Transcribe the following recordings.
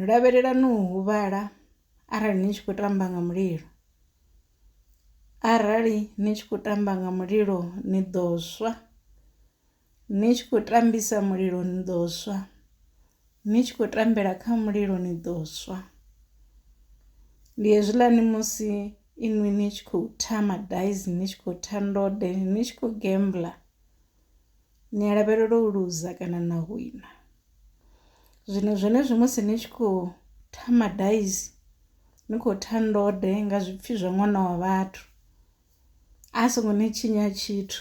Lavhelelani u huvhala arali ni tshi khou tamba nga mulilo, arali ni tshi khou tamba nga mulilo ni ḓo swa, ni tshi khou tambisa mulilo ni ḓo swa, ni tshi khou tambela kha mulilo ni ḓo swa. Ndi hezwiḽani musi inwi ni tshi khou tha madaisi ni tshi khou tha ndode ni tshi khou gembula ni a lavhelela u luza kana na wina zwino zwenezwi musi ni tshi khou thama daisi ni khou tha ndode nga zwipfhi zwa ṅwana wa vhathu a songo ni tshinya tshithu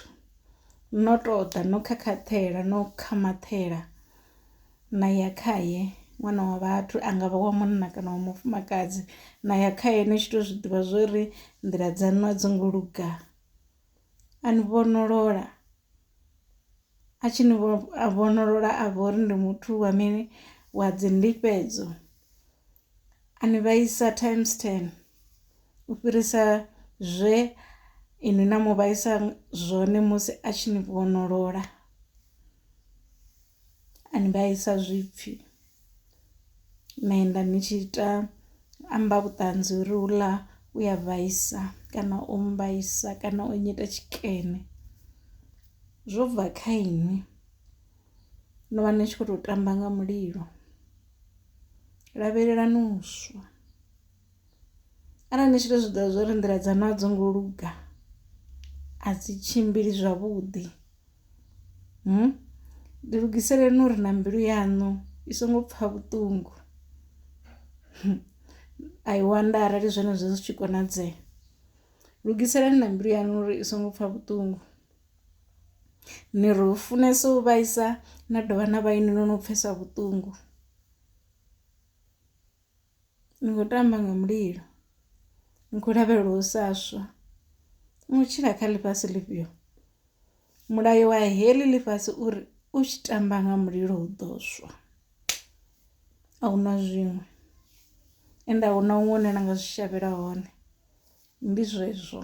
no tou ḓa no khakhaṱhela no khamaṱhela na ya khaye ṅwana wa vhathu a nga vha wa munna kana wa mufumakadzi na ya khaye ni tshi tou zwi ḓivha zwo ri nḓila dzaṋu a dzi ngo luga a ni vhonolola a tshi ni vhonolola a vha uri ndi muthu wa mini wa dzi ndifhedzo a ni vhaisa times ten u fhirisa zwe inwi na mu vhaisa zwone musi a tshi ni vhonolola. a ni vhaisa zwipfhi na enda ni tshi ita amba vhuṱanzi uri huḽa u ya vhaisa kana o mmbaisa kana o nnyita tshikene zwo bva kha inwi no vha ni tshi kho to tamba nga mulilo lavhelelani u swa. Arali ni tshi to zwiḓivha zwa uri nḓila dzaṋu a dzi ngo luga a dzi tshimbili zwavhuḓi ḓi lugiselani uri na mbilu yaṋu i songo pfha vhuṱungu I wonder arali zwenezwo zwi tshi konadzea. Lugiselani na mbilu yaṋu uri i songo pfha vhuṱungu ni ri u funesa u vhaisa na dovha na vha inwi no no pfhesa vhuṱungu. Ni khou tamba nga mulilo, ni khou lavhelela u sa swa. Ni khou tshila kha ḽifhasi ḽifhio? Mulayo wa heḽi ḽifhasi uri u tshi tamba nga mulilo u ḓo swa. A hu na zwiṅwe ende a hu na huṅwe hune na nga zwi shavhela hone ndi zwezwo.